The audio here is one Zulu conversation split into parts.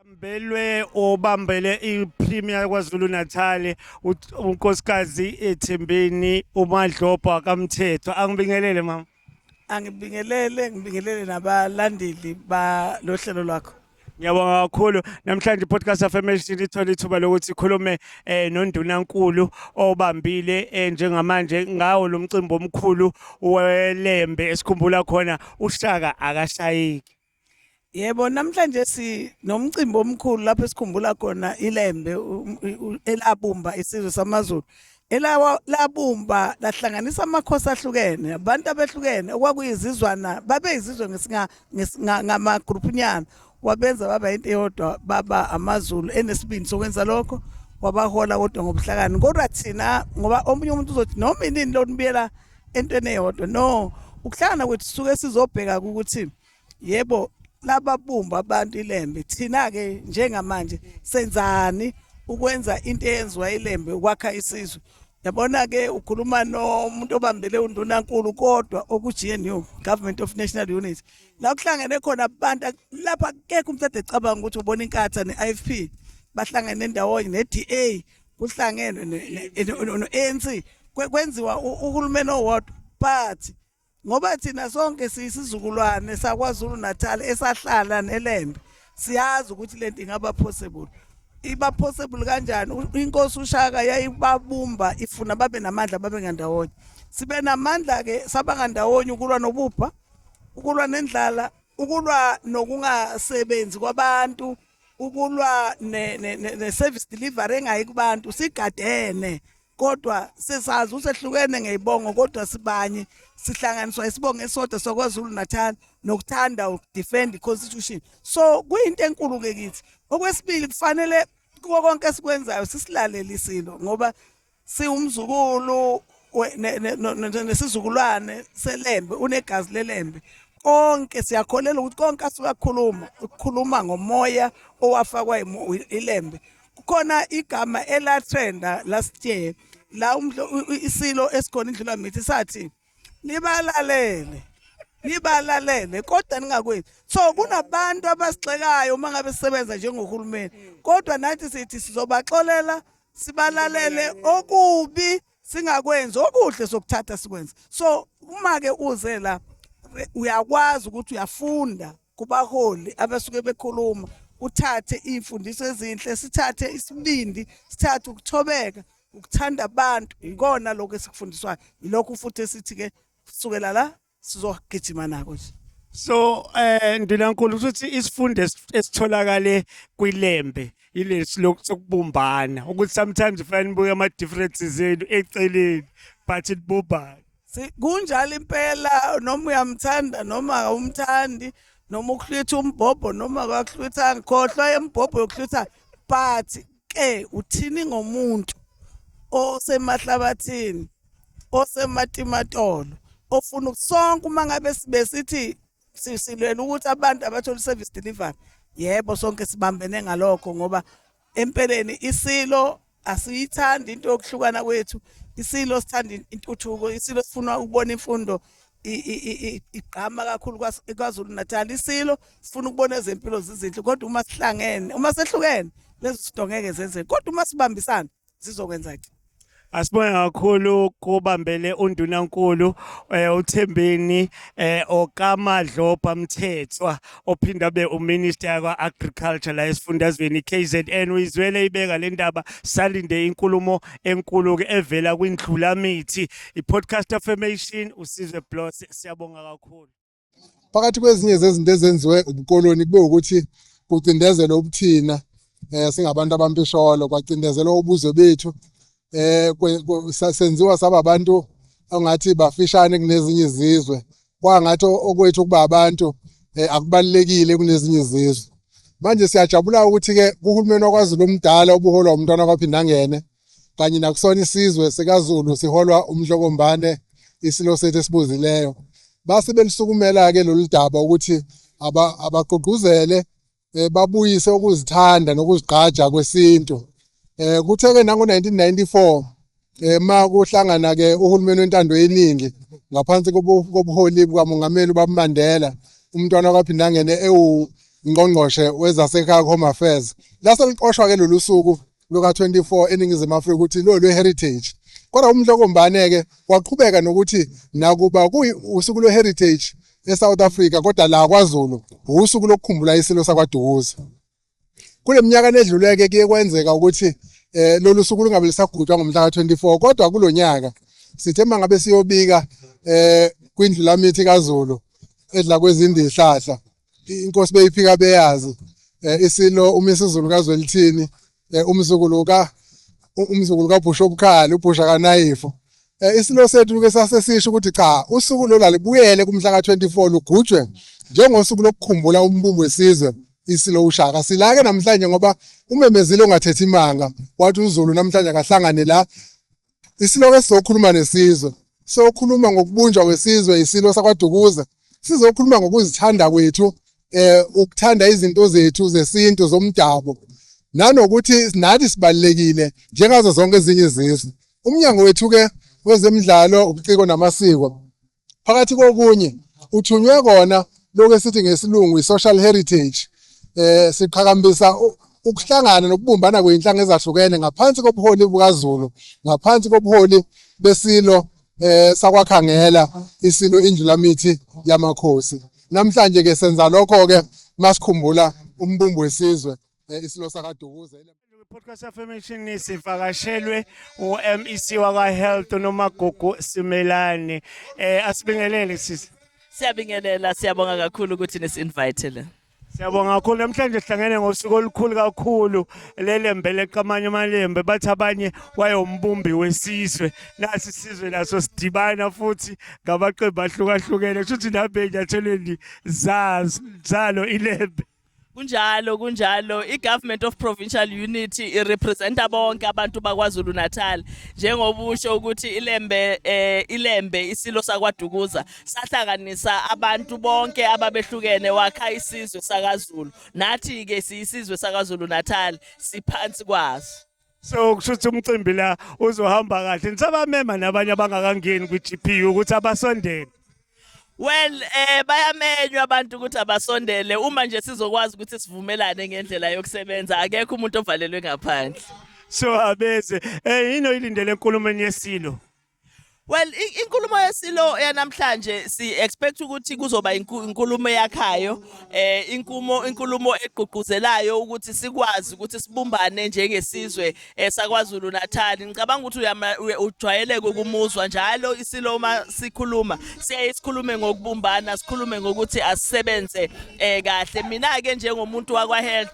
Mbelwe obambele iPremier kwaZulu Natal unkosikazi eThembeni uMadlobha kaMthetho angibingelele mama angibingelele ngibingelele nabalandeli balohlelo lwakho Ngiyabonga kakhulu namhlanje podcast affirmation ithole ithuba lokuthi sikhulume eh nondunankulu obambile eh, njengamanje ngawo lomcimbi omkhulu welembe esikhumbula khona ushaka akashayiki Yebo namhlanje si nomcimbi omkhulu lapho esikhumbula khona ilembe elabumba isizwe samaZulu elawa labumba lahlanganisa amakhosi ahlukene abantu abehlukene okwakuyizizwana babeyizizwe ngamagrupunyana wabenza baba into eyodwa baba amazulu enesibindi sokwenza lokho wabahola kodwa ngobuhlakani kodwa thina ngoba omunye umuntu uzothi noma inini lonibuyela entweni eyodwa no ukuhlangana kwethu suke sizobheka ukuthi yebo lababumba abantu ilembe thina-ke njengamanje senzani ukwenza into eyenziwa ilembe ukwakha isizwe yabona ke ukhuluma nomuntu obambele undunankulu kodwa okuGNU Government of National Unity la kuhlangene khona abantu lapha kekho umuntu ade cabanga ukuthi ubona inkatha neIFP bahlangene ndawonye neDA kuhlangenwe noANC kwenziwa uhulumeni owodwa but ngoba thina sonke siyisizukulwane sakwazulu natal esahlala nelembe siyazi ukuthi le nto ingaba possible iba possible kanjani inkosi ushaka yayibabumba ifuna babe namandla babe ngandawonye sibe namandla ke saba ngandawonye ukulwa nobubha ukulwa nendlala ukulwa nokungasebenzi kwabantu ukulwa ne-service delivery engayi kubantu sigadene kodwa sesazi usehlukene ngeyibongo kodwa sibanye sihlanganiswa isibongo esodwa sokwazulu natal nokuthanda ukudefend i-constitution so kuyinto enkulu-ke kithi okwesibili kufanele kuko konke esikwenzayo sisilalele isilo ngoba siwumzukulu nesizukulwane selembe unegazi lelembe konke siyakholela ukuthi konke asuke akhuluma ukukhuluma ngomoya owafakwa ilembe kukhona igama elatrenda last year la isilo esikhona indlula mithi sathi nibalalele nibalalele kodwa ningakwenzi so kunabantu abasigxekayo uma ngabe sisebenza njengohulumeni kodwa nathi sithi sizobaxolela sibalalele okubi singakwenzi okuhle sokuthatha sikwenze so uma ke uze la uyakwazi ukuthi uyafunda kubaholi abasuke bekhuluma uthathe imfundiso ezinhle sithathe isibindi sithathe ukuthobeka ukuthanda abantu ikona lokho esikufundiswayo ilokho futhi esithi ke sukela la sizogijima nako nje so eh ndinankulu ukuthi isifundo esitholakale kwilembe ilesi lokubumbana ukuthi sometimes ufana nibuke ama differences enu eceleni but nibumbana kunjalo impela noma uyamthanda noma awumthandi noma uhlwitha umbhobho noma akahlwithanga khohlwa embhobho yokuhlwitha but ke uthini ngomuntu osemahlabathini osematimatolo ofuna sonke uma ngabe sibesithi sisilwela ukuthi abantu abathole service delivery yebo sonke sibambene ngalokho ngoba empeleni isilo asiyithandi into yokuhlukana kwethu isilo sithanda intuthuko isilo sifuna ukubona imfundo igqama kakhulu kwaZulu Natal isilo sifuna ukubona ezempilo zizinhle kodwa uma sihlangene uma sehlukene lezo zinto ngeke zenzeke kodwa uma sibambisana zizokwenza ke Asibonge kakhulu kubambele undunankulu eh, uThembeni eh, okaMadlopha Mthethwa ophinda be uminister yakwa agriculture la esifundazweni KZN uyizwele ibeka le ndaba salinde inkulumo enkulu ke evela kwindlula mithi iPodcast Affirmation usizwe Bloss siyabonga kakhulu phakathi kwezinye zezinto ezenziwe ubukoloni kube ukuthi kucindezelwe ubuthina eh singabantu abampisholo kwacindezelwa ubuzwe bethu eh senziwa saba abantu ongathi bafishane kunezinye izizwe kwangathi okwethu kuba abantu eh, akubalekile kunezinye izizwe manje siyajabula ukuthi ke kuhulumeni wakwaZulu omdala obuholwa umntwana kwaphindangene kanye nakusona isizwe sikaZulu siholwa uMhlokombane isilo sethu esibuzileyo base belisukumela ke lolu daba ukuthi abagqugquzele eh, babuyise ukuzithanda nokuzigqaja kwesintu eh kuthe ke nango 1994 eh ma kuhlangana ke uhulumeni wentando yeningi ngaphansi kobuholi bukamongameli uBabMandela umntwana kwaphinda ngene ewu ngqongqoshe wezasekhaya home affairs lase liqoshwa ke lolu suku luka-24 eningizimu afrika ukuthi lo lwe-heritage kodwa umhlokombane-ke waqhubeka nokuthi nakuba kuwusuku lwe-heritage esouth africa kodwa la kwazulu wusuku lokukhumbula isilo sakwadukuza kule minyaka nedluleke kuye kwenzeka ukuthi um lolu suku lungabe lisagujwa ngomhla ka-24 kodwa kulo nyaka sithe uma ngabe siyobika um kwindlu lamithi kazulu edla kwezindihlahla inkosi beyiphika beyazi eh, isilo umisizulu kazwelithini eh, umzukulu ka umzukulu kabhusha obukhali ubhusha kanayifo eh, isilo sethu ke sasesisho ukuthi cha usuku lola libuyele kumhla ka24 lugujwe njengosuku lokukhumbula umbumbu wesizwe isilo ushaka silake namhlanje ngoba umemezile ongathethi imanga wathi uzulu namhlanje akahlangane la Isiloke sizokhuluma nesizwe. Sokhuluma ngokubunjwa kwesizwe isilo sakwaDukuza. Sizokhuluma ngokuzithanda kwethu eh ukuthanda izinto zethu zesintu zomdabu. Nanokuthi nathi sibalekile njengazo zonke ezinye izizwe. Umnyango wethu ke wezemidlalo, ubuciko namasiko Phakathi kokunye uthunywe kona lokho esithi ngesilungu i-social heritage eh siqhakambisa ukuhlangana nokubumbana kweyinhlanga ezahlukene ngaphansi kobuholi bukaZulu ngaphansi kobuholi besilo eh sakwakhangela isilo indlulamithi yamakhosi namhlanje ke senza lokho ke masikhumbula umbumbu wesizwe eh, isilo sakadukuze Podcast Affirmation sivakashelwe uMEC wakwa Health noMagugu Simelane eh asibingelele sisi Siyabingelela siyabonga kakhulu ukuthi nisinvite la Siyabonga kakhulu namhlanje sihlangene ngosuku olukhulu kakhulu lelembe leqamanye amalembe bathi abanye wayombumbi wesizwe nasi sizwe laso sidibana futhi ngabaqembu ahlukahlukene kusho ukuthi nabe enyathelweni zalo ilembe kunjalo kunjalo i-government of provincial unity irepresenta bonke abantu bakwazulu natal njengoba usho ukuthi ilembe eh, ilembe isilo sakwadukuza sahlanganisa abantu bonke ababehlukene wakha isizwe sakazulu nathi-ke siyisizwe sakazulu natal siphansi kwaso so kusho ukuthi umcimbi la uzohamba kahle nisabamema nabanye abangakangeni kwi-GPU ukuthi abasondele Well eh bayamenywa abantu ukuthi abasondele uma nje sizokwazi ukuthi sivumelane ngendlela yokusebenza akekho umuntu ovalelwe ngaphandle so abeze eh yini oyilindele enkulumeni yesilo Well inkulumo yesilo yanamhlanje si expect ukuthi kuzoba inkulumo yakhayo eh inkumo inkulumo egqugquzelayo ukuthi sikwazi ukuthi sibumbane njengesizwe esaKwaZulu eh, Natal ngicabanga ukuthi ujwayeleke ukumuzwa njalo isilo uma sikhuluma siyaye sikhulume ngokubumbana sikhulume ngokuthi asisebenze eh kahle mina ke njengomuntu wakwa health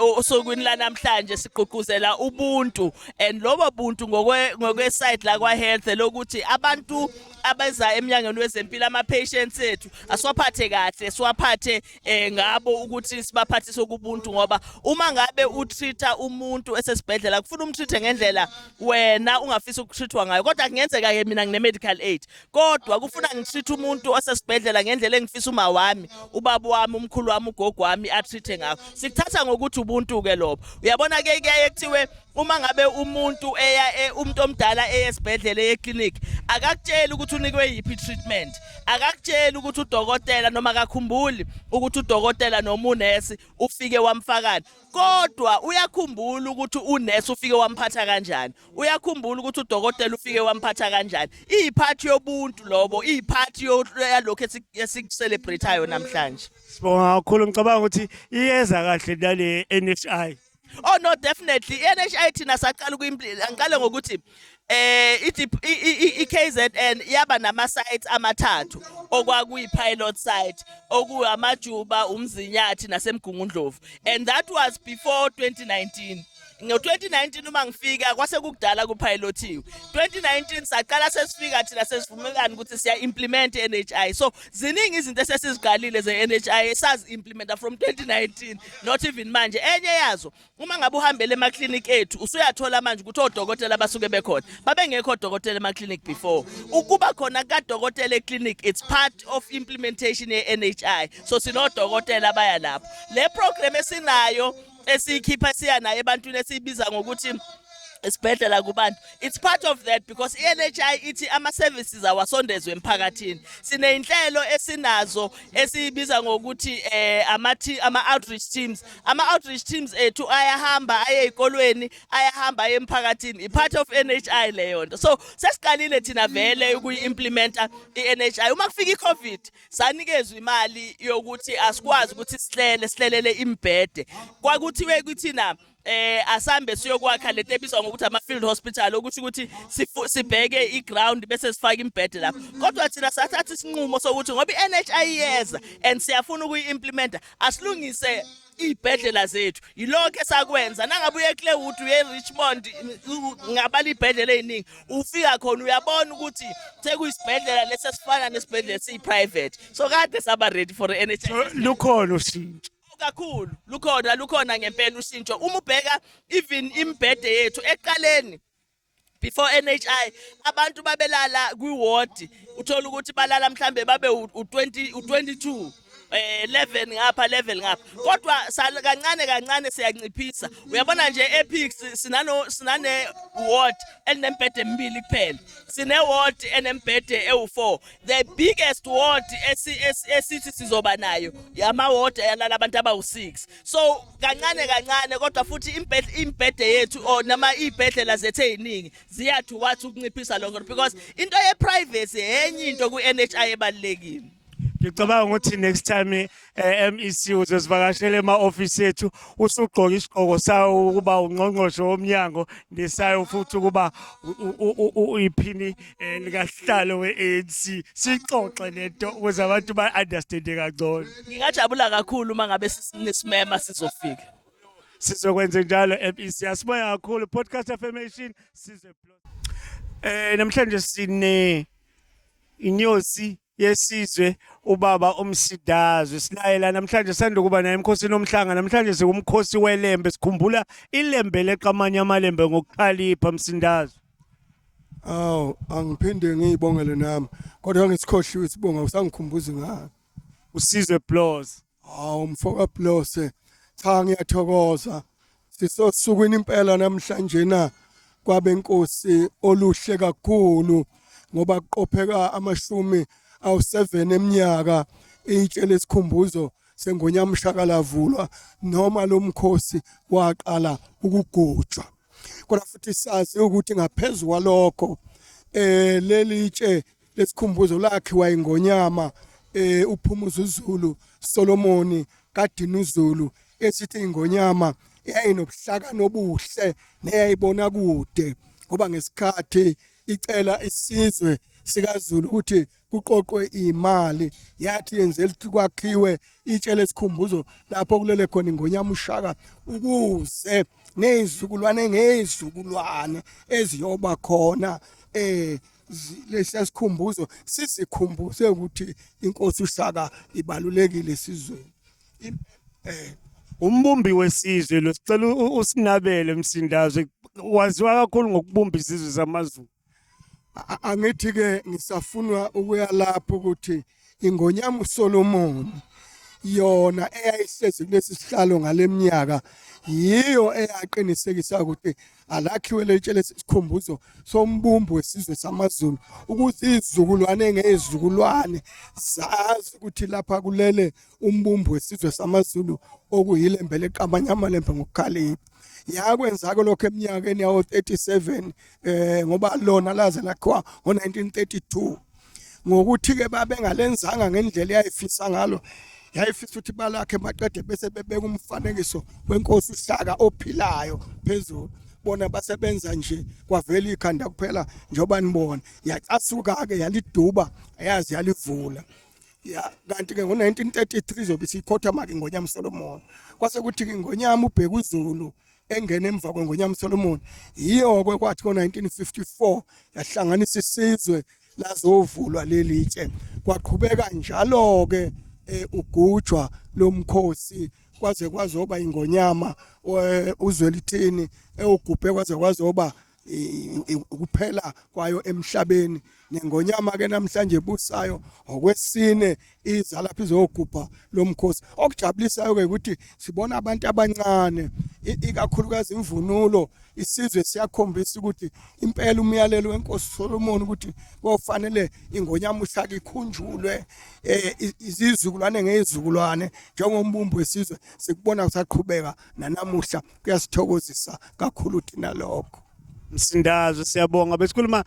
osukwini lanamhlanje sigqugquzela ubuntu and lobo buntu ngokwe ngokwe side la kwa health lokuthi abantu abeza emnyangweni wezempilo ama patients ethu asiwaphathe kahle siwaphathe eh, ngabo ukuthi sibaphathise ukubuntu ngoba uma ngabe utreata umuntu esesibhedlela kufuna umtreate ngendlela wena ungafisa ukutreatwa ngayo kodwa kungenzeka ke mina ngine medical aid kodwa kufuna ngitreat umuntu osesibhedlela ngendlela engifisa uma wami ubaba wami umkhulu wami ugogo wami atreat ngakho sikuthatha ngokuthi ubuntu ke lobo uyabona ke kuyaye kuthiwe uma ngabe umuntu eya e, umuntu omdala eyesibhedlela eyeclinic akakutsheli ukuthi unikwe yiphi treatment akakutsheli ukuthi udokotela noma akakhumbuli ukuthi udokotela noma unesi ufike wamfakani kodwa uyakhumbula ukuthi unesi ufike wamphatha kanjani uyakhumbula ukuthi udokotela ufike wamphatha kanjani iyiphathi yobuntu lobo iyiphathi yalokho esikucelebratayo namhlanje sibonga kakhulu ngicabanga ukuthi iyeza kahle nale NHI oh no definitely NHI thina saqala angiqale ngokuthi eh iKZN yaba nama sites amathathu okwakuyi pilot site okuwamajuba umzinyathi nasemgungundlovu and that was before 2019 ngo-2019 uma ngifika kwase kukudala kuphayilothiwe 2019 saqala sesifika thina sesivumelana ukuthi siya-implimenta i-n h i so ziningi izinto esesiziqalile ze-n h i esazi-implimenta from 2019 not even manje enye yazo uma ngabe uhambele emaklinikhi ethu usuyathola manje ukuthi odokotela abasuke bekhona babengekho odokotela emaklinikhi before ukuba khona kukadokotela eklinikhi it's part of implementation ye-n h i so sinodokotela abaya lapho le program esinayo esiyikhipha siya naye ebantwini esiyibiza ngokuthi esibhedlela kubantu it's part of that because i-NHI ithi ama-services awasondezwe emphakathini siney'nhlelo esinazo esiyibiza ngokuthi eh, ama-outreach teams ama-outreach teams ethu ayahamba aye ey'kolweni ayahamba aye emphakathini i-part of NHI leyo nto so sesiqalile thina vele ukuyi-implimenta i-NHI uma kufika i-covid sanikezwa imali yokuthi asikwazi ukuthi sihlele sihlelele imbhede kwakuthiwe kuthina eh asambe siyokwakha lento ebizwa ngokuthi ama field hospital okusho ukuthi sibheke i ground bese sifaka imbhede lapho kodwa thina sathatha isinqumo sokuthi ngoba i NHI iyeza and siyafuna ukuyi implementa asilungise iy'bhedlela zethu yilokho esakwenza nangabe uye claywood uye richmond ngabala iy'bhedlela ey'ningi ufika khona uyabona ukuthi sekuyisibhedlela lesi esifana nesibhedlela siyi-private so kade saba ready for n h lukhona ushintsho kakhulu lukhona lukhona ngempela ushintsho uma ubheka even imibhede yethu eqaleni before NHI abantu babelala kwi ward uthola ukuthi balala mhlambe babe u20 u22 eh 11 ngapha level ngapha kodwa kancane kancane siyanciphisa uyabona nje epics sinano sinane ward elinembhede emibili kuphela sine ward enembhede ewu4 the biggest ward esithi sizoba nayo yama ward ayalala abantu abawu6 so kancane kancane kodwa futhi imbhede yethu or nama ibhedlela zethu eziningi ziyathu wathi ukunciphisa lokho because into ye privacy enye into ku NHI ebalekile ngicabanga ukuthi next time eh, MEC uzosivakashela ema office ethu usugqoka isigqoko sawo ukuba ungqongqoshe womnyango nesayo futhi ukuba iphini eh, likahlalo we-anc sixoxe lento ukuze abantu ba-understande kangcono ngingajabula kakhulu uma ngabe sinesimema sizofika sizokwenza njalo mec asiboya kakhulu podcast affirmation size eh namhlanje sine inyosi yesizwe ubaba umsidazwe silayela namhlanje sanda ukuba naye emkhosini omhlanga namhlanje siwumkhosi welembe sikhumbula ilembe leqamanye amalembe ngokukhalipha msindazwe awu angiphinde ngiyibongele nami kodwa ngisikhohliwe isibonga usangikhumbuza ngani usizwe blows Hawu mfoka Blose cha ngiyathokoza sisosukwini impela namhlanje na kwabenkosi oluhle kakhulu ngoba kuqopheka amashumi awu7 eminyaka itshe lesikhumbuzo sengonyamshaka lavulwa noma lomkhosi waqala ukugujwa kodwa futhi sazi ukuthi ngaphezulu kwalokho eh leli tshe lesikhumbuzo lakhiwa ingonyama eh uphumuza uZulu Solomoni kaDinuzulu esithi ingonyama yayinobuhlaka nobuhle neyayibona kude ngoba ngesikhathi icela isizwe sikaZulu ukuthi kuqoqwe imali yathi yenze ukuthi kwakhiwe itshe lesikhumbuzo lapho kulele khona ingonyama ushaka ukuze nezizukulwane ngezizukulwane eziyoba khona eh lesiyasikhumbuzo sizikhumbuze ukuthi inkosi uShaka ibalulekile esizweni eh umbumbi wesizwe lo sicela usinabele msindazwe waziwa kakhulu ngokubumba izizwe zamaZulu angithi ke ngisafunwa ukuya lapho ukuthi Ingonyama uSolomoni yona eyayihlezi kulesi sihlalo ngaleminyaka yiyo eyaqinisekisa ukuthi alakhiwe lelitshele isikhumbuzo sombumbu wesizwe samaZulu ukuthi izizukulwane ngezizukulwane zazi ukuthi lapha kulele umbumbu wesizwe samaZulu okuyilembe leqabanyama lembe ngokukhalipha yakwenzako lokho eminyakeni yawo-37 eh ngoba lona laze lakhiwa ngo-1932 ngokuthi-ke babengalenzanga ngendlela eyayifisa ngalo yayifisa ukuthi balakhe maqede bese bebeka umfanekiso wenkosi uhlaka ophilayo phezulu bona basebenza nje kwavela ikhanda kuphela njengoba nibona yacasuka-ke yaliduba ayazi yalivula ya kanti-ke ngo-1933 zobe siyikhotha-make ingonyama usolomona kwase kuthi-ke ingonyama ubheka uzulu engene emva kweNgonyama Solomon yiyo-ke kwathi ngo-1954 yahlanganisa isizwe lazovulwa leli tshe kwaqhubeka njalo-ke eh, ugujwa lomkhosi kwaze kwazoba ingonyama eh, uzwelithini ewugubhe kwaze kwazoba ukuphela kwayo emhlabeni nengonyama ke namhlanje busayo ngokwesine iza lapha izogubha lomkhosi okujabulisayo ke ukuthi sibona abantu abancane ikakhulukazi imvunulo isizwe siyakhombisa ukuthi impela umyalelo wenkosi Solomon ukuthi kofanele ingonyama uhlaka ikhunjulwe eh, izizukulwane ngezizukulwane njengombumbu wesizwe sikubona kusaqhubeka nanamuhla kuyasithokozisa kakhulu thina lokho msindazo siyabonga besikhuluma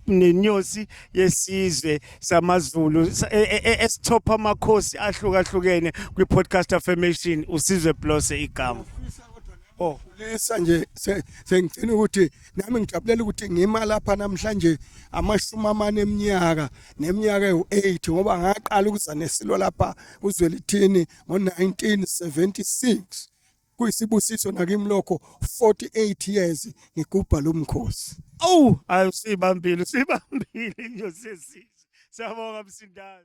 nenyosi yesizwe samaZulu e, e, e, esithopha amakhosi ahlukahlukene kwi-podcast affirmation usizwe blose igama oh lesa nje sengicela ukuthi nami ngijabulela ukuthi ngima lapha namhlanje amashumi amane eminyaka neminyaka ewu-8 ngoba ngaqala ukuza nesilo lapha kuzwelithini ngo-1976 kuyisibusiso nakimi lokho 48 years ngigubha lo mkhosi awu ayi sibambile sibambile nje sesizwe siyabonga msindazi